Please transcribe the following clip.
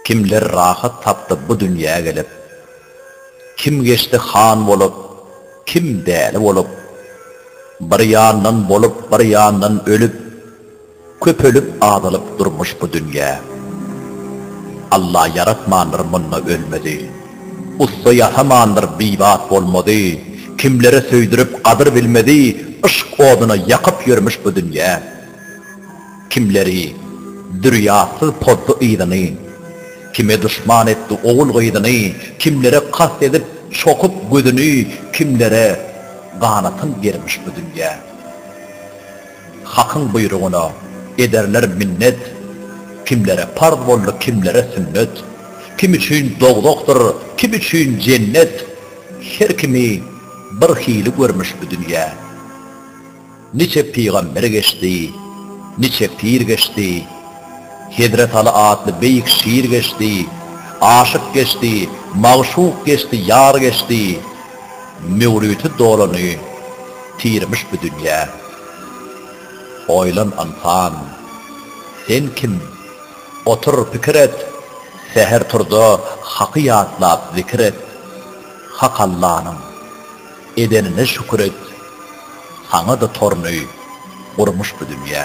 Kimler rahat tapdy bu dünýä gelip. Kim geçdi han bolup, kim däli bolup. Bir ýandan bolup, bir ýandan ölüp. Köpelip azalyp durmuş bu dünýä. Alla ýaratmandyr munda ölmezi. Ussa ýasamandyr bibat bolmazy. Kimlere söýdürip gadyr bilmezi Yşk oduna ýakyp ýörmüş bu dünýä. Kimleri zürýatsyz pozdy yzyny. Kime duşman etdi ogul gyzyny Kimlere kast edip çokup gözüni Kimlere ganatyn germiş bu dünýä. Hakyň buýrugyna ederler minnet, Kimlere parz boldy, kimlere sünnet. Kim üçin dowzahdyr, kim üçin jennet, Her kimi bir hili görmüş bu dünýä. Niçe pygamber geçdi, niçe pir geçdi, Hezret Aly atly beýik şir geçdi, Aşyk geçdi, magşuk geçdi, ýar geçdi. Möwriti dolany tirmiş bu dünýä. Oýlan ynsan, sen kim? Otur pikir et, Säher turda Haky ýatlap zikir et. Hak Allanyň, edenine şükür et. Saňa-da torun öý gurmuş bu dünýä.